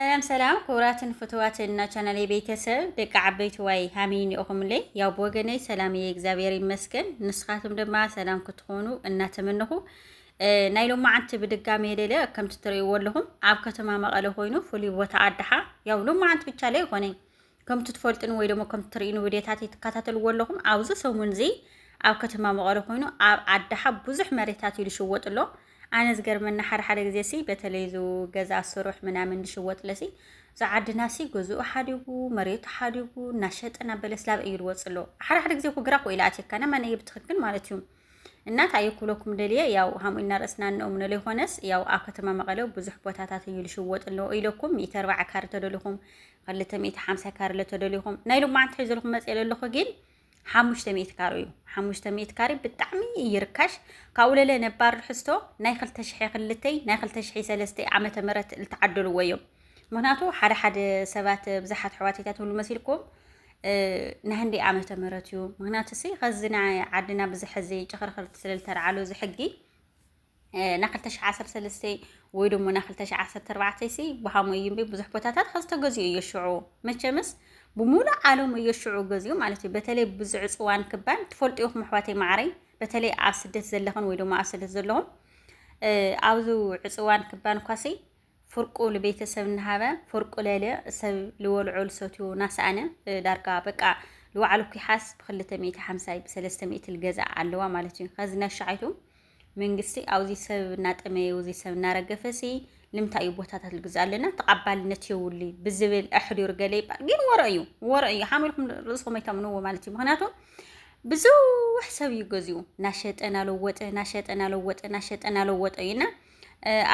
ሰላም ሰላም ክቡራትን ፍትዋትን እና ቻናሌ ቤተሰብ ደቂ ዓበይቲ ዋይ ሃመይ ኒኦኹምለይ ያው ብወገነይ ሰላም እየ እግዚኣብሔር ይመስገን ንስኻትም ድማ ሰላም ክትኾኑ እናተመነኹ ናይ ሎማዓንቲ ብድጋሚ የሌለ ከምቲ ትርእይዎ ኣለኹም ኣብ ከተማ መቐለ ኮይኑ ፍሉይ ቦታ ኣድሓ ያው ሎማዓንቲ ብቻ ለይ ይኾነይ ከምቲ ትፈልጥን ወይ ደሞ ከምቲ ትርእኑ ቪድዮታተይ ትከታተልዎ ኣለኹም ኣብዚ ሰሙን እዚ ኣብ ከተማ መቐለ ኮይኑ ኣብ ዓዳሓ ብዙሕ መሬታት እዩ ዝሽወጥ ኣሎ ኣነ ዝገርመና ሓደ ሓደ ግዜ ሲ በተለይ ዙ ገዛ ስሩሕ ምናምን ዝሽወጥ ለሲ እዛ ዓድና ሲ ገዝኡ ሓዲጉ መሬቱ ሓዲጉ እናሸጠ እናበለ ስላብ እዩ ዝወፅ ኣሎ ሓደ ሓደ ግዜ እኮ ግራ ኮ ኢላ ኣትየካና መን እዩ ብትክክል ማለት እዩ እና ታየ ክብለኩም ደልየ ያው ሃምኡ ኢና ርእስና እንእምኖ ዘይኮነስ ያው ኣብ ከተማ መቐለ ብዙሕ ቦታታት እዩ ልሽወጥ ኣለዎ ኢለኩም ሚእቲ ኣርባዓ ካሪ ተደሊኹም ክልተ ሚእቲ ሓምሳ ካሪ ለተደሊኹም ናይ ሎማዓንቲ ሒዞ ልኩም መፅእ ለለኹ ግን ሓሙሽተ ሚእቲ ካሪ እዩ ሓሙሽተ ሚእቲ ካሪ ብጣዕሚ ይርካሽ ካብኡ ለለ ነባር ርሕስቶ ናይ ክልተ ሽሐ ክልተይ ናይ ክልተ ሽሐ ሰለስተይ ዓመተ ምህረት ዝተዓደልዎ እዮም ምክንያቱ ሓደ ሓደ ሰባት ብዙሓት ኣሕዋት ይታትብሉ መሲልኩም ናይ ህንደይ ዓመተ ምህረት እዩ ምክንያቱ ሲ ከዚ ናይ ዓድና ብዙሕ እዚ ጭኽርኽርቲ ስለ ዝተርዓሉ እዚ ሕጊ ና 213 ወይ ደሞ ና 214 ሲ ብሃሞ እዩ እምበይ ብዙሕ ቦታታት ከዚ ተገዚኡ እዩ ሽዑ መቸምስ ብሙሉእ ዓለም እዩ ሽዑ ገዚኡ ማለት እዩ በተለይ ብዙ ዕፅዋን ክባን ትፈልጡ ይኹም ኣሕዋተይ ማዕረይ በተለይ ኣብ ስደት ዘለኽን ወይ ደሞ ኣብ ስደት ዘለኹም ኣብዚ ዕፅዋን ክባን ኳሲ ፍርቁ ልቤተሰብ እናሃበ ፍርቁ ለለ ሰብ ልወልዖ ልሰትዮ ናሰኣነ ዳርጋ በቃ ልዋዕሎ ኩሓስ ብክልተ ሚእቲ ሓምሳይ ብሰለስተ ሚእቲ ልገዝኣ ኣለዋ ማለት እዩ ከዚ ነሻዓይቱ መንግስቲ ኣውዚ ሰብ እናጠመየ ውዚ ሰብ እናረገፈ ሲ ልምታይ እዩ ቦታታት ልግዝኣ ኣለና ተቓባልነት የውሊ ብዝብል ኣሕዲሩ ገለ ይባል ግን ወረ እዩ ወረ እዩ ሓም ኢልኩም ርእስኹም ኣይተምንዎ ማለት እዩ ምክንያቱ ብዙሕ ሰብ እዩ ገዚኡ ናሸጠ ናለወጠ ናሸጠ ናለወጠ ናሸጠ ናለወጠ እዩና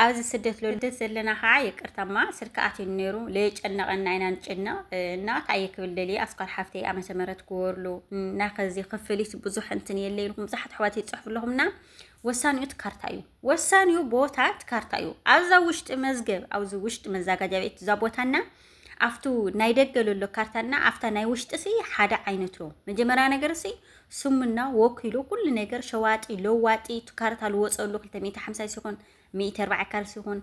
ኣብዚ ስደት ሎልደ ዘለና ከዓ ይቅርታማ ስልክ ኣትዩ ነይሩ ለየጨነቀና ኢና ንጭነቅ እና ታይ ክብል ደልየ ኣስኳር ሓፍተይ ኣመተ ምህረት ክወርሉ እና ከዚ ክፍሊት ብዙሕ እንትን የለ ኢልኩም ብዙሓት ኣሕዋት ይፅሕፉ ኣለኹም እና ወሳኒኡ እቲ ካርታ እዩ ወሳኒኡ ቦታ እቲ ካርታ እዩ ኣብዛ ውሽጢ መዝገብ ኣብዚ ውሽጢ መዛጋጃ ቤት እዛ ቦታና ኣፍቱ ናይ ደገ ለሎ ካርታና ኣፍታ ናይ ውሽጢ ሲ ሓደ ዓይነት ሮ መጀመርያ ነገር ሲ ስሙና ወኪሉ ኩሉ ነገር ሸዋጢ ለዋጢ ካርታ ልወፀሉ 250 ሲኾን 140 ካር ሲኾን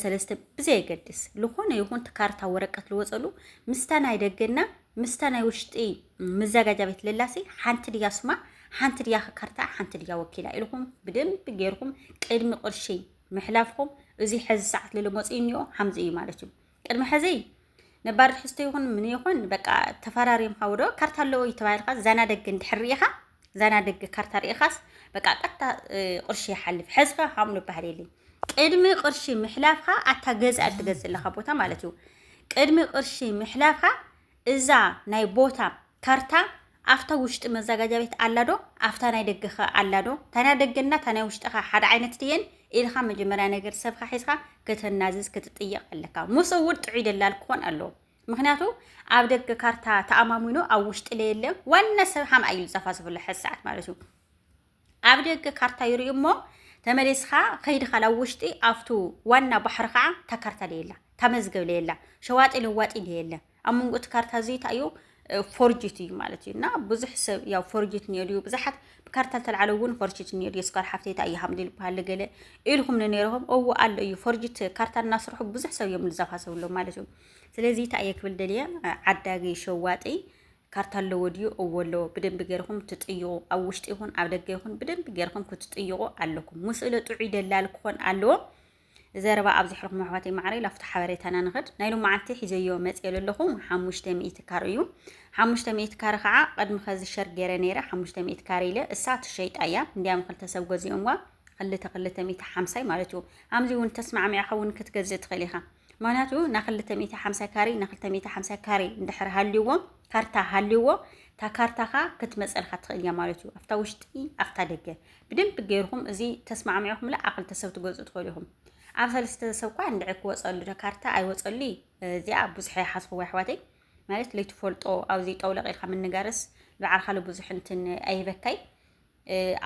ሰለስተ ብዘየገድስ ዝኾነ ይኹን ካርታ ወረቀት ልወፀሉ ምስታ ናይ ደገና ምስታ ናይ ውሽጢ መዘጋጃ ቤት ለላሲ ሓንቲ ድያ ስማ ሓንቲ ድያ ካርታ ሓንቲ ድያ ወኪላ ኢልኩም ብደንብ ጌርኩም ቅድሚ ቅርሺ ምሕላፍኩም እዚ ሕዚ ሰዓት ልልመፅ እኒኦ ሓምዚ እዩ ማለት እዩ ቅድሚ ሕዚ ነባር ትሕዝቶ ይኹን ምን ይኹን በቃ ተፈራሪም ሃውዶ ካርታ ኣለዎ እዩ ተባሂልካ ዛናደግ እንድሕር ርኢኻ ዛናደግ ካርታ ርኢኻስ በቃ ቀጥታ ቁርሺ ይሓልፍ ሕዝኻ ሃምሉ ባህል የለይ ቅድሚ ቅርሺ ምሕላፍካ ኣታ ገዛ እትገዝእ ኣለካ ቦታ ማለት እዩ ቅድሚ ቅርሺ ምሕላፍካ እዛ ናይ ቦታ ካርታ ኣፍታ ውሽጢ መዛጋጃ ቤት ኣላ ዶ ኣፍታ ናይ ደገ ከ ኣላ ዶ እታ ናይ ደገ እና እታ ናይ ውሽጢ ከ ሓደ ዓይነት ድየን ኢልካ መጀመርያ ነገር ሰብካ ሒዝካ ከተናዝዝ ክትጥየቅ ኣለካ ምስ እውን ጥዑይ ደላል ክኾን ኣለዎ ምክንያቱ ኣብ ደገ ካርታ ተኣማሚኑ ኣብ ውሽጢ ለየለ ዋና ሰብ ሓምኣ እዩ ዝፀፋፅፈሉ ሕዚ ሰዓት ማለት እዩ ኣብ ደገ ካርታ ይርእዩ እሞ ተመሊስኻ ከይድኻ ናብ ውሽጢ ኣብቱ ዋና ባሕሪ ከዓ እታ ካርታ ደየላ እታ መዝገብ ለየላ ሸዋጢ ለዋጢ ደየለ ኣብ መንጎ እቲ ካርታ እዚ እንታይ እዩ ፎርጅት እዩ ማለት እዩ እና ብዙሕ ሰብ ያው ፎርጅት ኒዮ ድዩ ብዙሓት ብካርታ ተልዓለ እውን ፎርጅት ኒዮ ድዩ ስኳር ሓፍተይ እንታይ እዩ ሃምዲ ዝበሃል ገለ ኢልኩም ንነይርኹም እዎ ኣሎ እዩ ፎርጅት ካርታ እናስርሑ ብዙሕ ሰብ እዮም ዝዘፋሰብሎም ማለት እዩ ስለዚ እንታይ እየ ክብል ደልየ ዓዳጊ ሸዋጢ ካርታ ኣለዎ ድዩ እወ ኣለዎ ብደንቢ ገርኩም ትጥይቁ ኣብ ውሽጢ ይኹን ኣብ ደገ ይኹን ብደንቢ ገርኩም ክትጥይቁ ኣለኩም ምስእለ ጥዑይ ደላል ክኾን ኣለዎ ዘረባ ኣብ ዝሕርኩም ኣሕዋተይ ማዕረይ ላፍቶ ሓበሬታና ንኸድ ናይ ሎማዓንቲ ሒዘዮ መፅየ ዘለኹ ሓሙሽተ ሚእቲ ካር እዩ ሓሙሽተ ሚእቲ ካር ከዓ ቅድሚ ከዚ ሸር ገይረ ነይረ ሓሙሽተ ሚእቲ ካር ኢለ እሳ ትሸይጣ እያ እንዲያም ክልተ ሰብ ገዚኦምዋ ክልተ ክልተ ሚእቲ ሓምሳይ ማለት እዩ ኣምዚ እውን ተስማዕሚዕኻ እውን ክትገዝእ ትኽእል ኢኻ ምክንያቱ ን ክልተ ሚእቲ ሓምሳ ካሬ ን ክልተ ሚእቲ ሓምሳ ካሬ እንድሕር ሃልዩዎም ካርታ ሃልዩዎ እታ ካርታኻ ክትመጸልካ ትኽእል እያ ማለት እዩ ኣብታ ውሽጢ ኣብታ ደገ ብደንቢ ገይርኹም እዚ ተስማዕሚዕኹምላ ኣብ ክልተ ሰብ ትገዝኡ ትኽእሉ ኢኹም ኣብ ሰለስተ ሰብ እኳ እንድዒ ክወጸሉ ዶ ካርታ ኣይወጸሉ እዩ እዚኣ ብዙሕ ኣይሓዝኽዎ ኣሕዋተይ ማለት ለይትፈልጦ ኣብዚ ጠውለቕ ኢልካ ምንጋርስ ብዓልካ ብዙሕ እንትን ኣይበካይ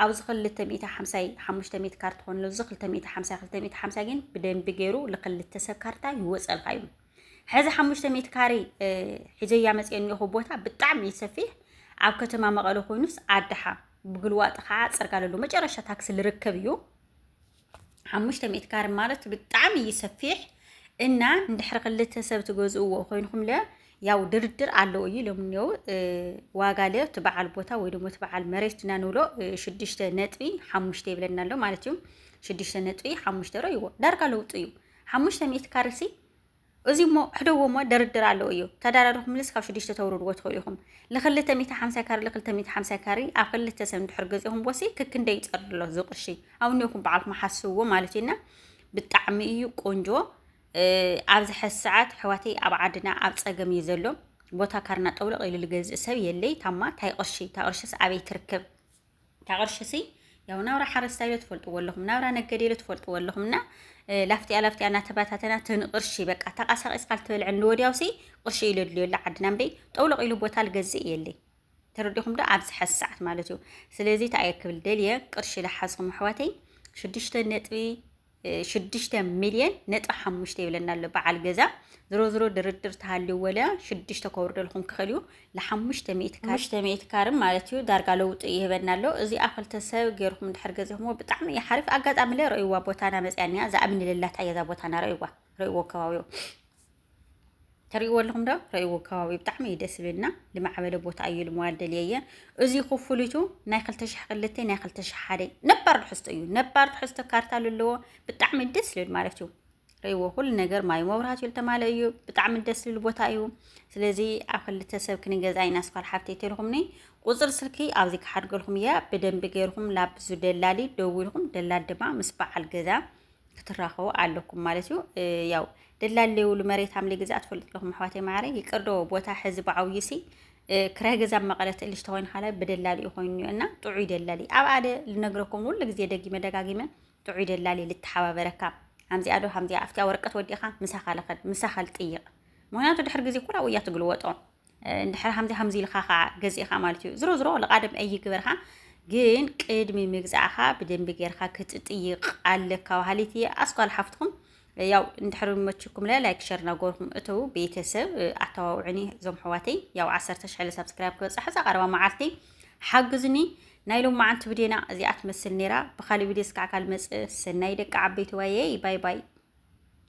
ኣብዚ ክልተ ሚእታ ሓምሳይ ሓሙሽተ ሚእቲ ካር ትኾንሉ እዚ ክልተ ሚእቲ ሓምሳይ ክልተ ሚእቲ ሓምሳይ ግን ብደንቢ ገይሩ ልክልተ ሰብ ካርታ ይወፀልካ እዩ ሕዚ ሓሙሽተ ሚእቲ ካሬ ሒዘያ መፅኦ እኒኹ ቦታ ብጣዕሚ እዩ ሰፊሕ ኣብ ከተማ መቐለ ኮይኑስ ኣድሓ ብግልዋጥ ከዓ ፅርጋለሉ መጨረሻ ታክሲ ልርከብ እዩ ሓሙሽተ ሚእቲ ካረ ማለት ብጣዕሚ እዩ ሰፊሕ እና እንድሕሪ ክልተ ሰብ ትገዝእዎ ኮይንኩም ለ ያው ድርድር ኣለዎ እዩ ኢሎም እኒው ዋጋ ለ እቲ በዓል ቦታ ወይ ደግሞ እቲ በዓል መሬት እና ንብሎ ሽዱሽተ ነጥቢ ሓሙሽተ ይብለና ኣሎ ማለት እዩ ሽዱሽተ ነጥቢ ሓሙሽተ ሮ ይዎ ዳርጋ ለውጡ እዩ ሓሙሽተ ሚእቲ ካረ ሲ እዚ እሞ ሕደዎ እሞ ድርድር ኣለዎ እዩ ተዳራርኹም ልስ ካብ ሽዱሽተ ተውርድዎ ትኽእሉ ኢኹም ልኽልተ ሚእቲ ሓምሳ ካሪ ልኽልተ ሚእቲ ሓምሳ ካሪ ኣብ ክልተ ሰብ እንድሕር ገዚኹም ቦሲ ክክንደ ይጸርር ኣሎ እዚ ቅርሺ ኣውኒኹም በዓልኩም ሓስብዎ ማለት እዩ እና ብጣዕሚ እዩ ቆንጆ ኣብዚ ሕዚ ሰዓት ሕዋተይ ኣብ ዓድና ኣብ ፀገም እዩ ዘሎ ቦታ ካርና ጠውለቕ ኢሉ ዝገዝእ ሰብ የለይ ታማ ታይ ቅርሺ እታ ቅርሽስ ኣበይ ትርከብ እታ ቅርሺ ሲ ያው ናብራ ሓረስታይ ዶ ትፈልጥዎ ኣለኹም ናብራ ነገዴ ዶ ትፈልጥዎ ኣለኹም እና ላፍቲያ ላፍቲያ እናተባታተና ትንቅርሺ በቃ ተቃሳቂስካ ልትበልዐ ንወዲያው ሲ ቅርሺ እዩ ለድልዮ ኣላ ዓድና እምበይ ጠውለቕ ኢሉ ቦታ ልገዝእ የለይ ተረዲኹም ዶ ኣብዚ ሓዚ ሰዓት ማለት እዩ ስለዚ ተኣየ ክብል ደልየ ቅርሺ ልሓዝኹም ኣሕዋተይ ሽዱሽተ ነጥቢ ሽዱሽተ ሚልየን ነጥቢ ሓሙሽተ ይብለና ኣሎ በዓል ገዛ ዝሮ ዝሮ ድርድር ተሃልዩ ወለ ሽዱሽተ ከውርደልኩም ክኽእል እዩ ንሓሙሽተ ሚእቲ ካር ሓሙሽተ ሚእቲ ካርም ማለት እዩ ዳርጋ ለውጡ ይህበና ኣሎ እዚኣ ክልተ ሰብ ገይርኩም ድሕር ገዚኹምዎ ብጣዕሚ እዩ ሓሪፍ ኣጋጣሚ ለ ረእይዋ ቦታና መፅያኒያ ዝኣምንልላታ እያ እዛ ቦታና ረእይዋ ረእይዎ ከባቢኡ ተርእይዎ ኣለኹም ዶ ረእይዎ ከባቢ ብጣዕሚ እዩ ደስ ዝብልና ዝማዕበለ ቦታ እዩ ልምዋል ደልየየ እዚ ክፍሉቱ ናይ 2002 ናይ 2001 ነባር ትሕዝቶ እዩ ነባር ትሕዝቶ ካርታ ዘለዎ ብጣዕሚ ደስ ዝብል ማለት እዩ ረእይዎ ኩሉ ነገር ማይ መብራህት እዩ ዝተማለ እዩ ብጣዕሚ ደስ ዝብል ቦታ እዩ ስለዚ ኣብ ክልተ ሰብ ክንገዛ ኢና ስኳል ሓብተይ ተልኹምኒ ቁፅር ስልኪ ኣብዚ ክሓድገልኩም እያ ብደንቢ ገይርኩም ላብዙ ደላሊ ደዊልኩም ደላል ድማ ምስ በዓል ገዛ ክትራኸቡ ኣለኩም ማለት እዩ ያው ደላል ለይብሉ መሬት ኣምሊ ግዛ ትፈልጡ ኣለኹም ኣሕዋተይ ማዕረ ይቅርዶ ቦታ ሕዚ ብዓብዩ ሲ ክራይ ገዛ መቐለ ትእልሽ ተኮይኑ ካላ ብደላሊ እዩ ኮይኑ እና ጥዑይ ደላሊ ኣብ ኣደ ልነግረኩም ሁሉ ግዜ ደጊመ ደጋጊመ ጥዑይ ደላሊ ልተሓባበረካ ከምዚኣ ዶ ከምዚኣ ኣብቲያ ወረቀት ወዲእኻ ምሳኻ ልኸድ ምሳኻ ልጥይቕ ምክንያቱ ድሕሪ ግዜ ኩላ ውያ ትግልወጦ እንድሕር ሃምዚ ሃምዚ ኢልካ ከዓ ገዚእኻ ማለት እዩ ዝሮ ዝሮ ልቓደም ኣይግበርካ ግን ቅድሚ ምግዛእኻ ብደንቢ ጌርካ ክትጥይቕ ኣለካ በሃሊት እየ ኣስኳል ሓፍትኹም ያው እንድሕር መችኩም ለ ላይክ ሸር ናጎርኩም እተው ቤተሰብ ኣተዋውዕኒ እዞም ሕዋተይ ያው ዓሰርተ ሽሕለ ሳብስክራይብ ክበፅሕ እዛ ቀረባ መዓልቲ ሓግዝኒ ናይ ሎም መዓንቲ ብዴና እዚኣ ትመስል ነይራ ብካሊእ ቪድዮ ስካዕ ካልመፅእ ሰናይ ደቂ ዓበይቲ ዋየይ ባይ ባይ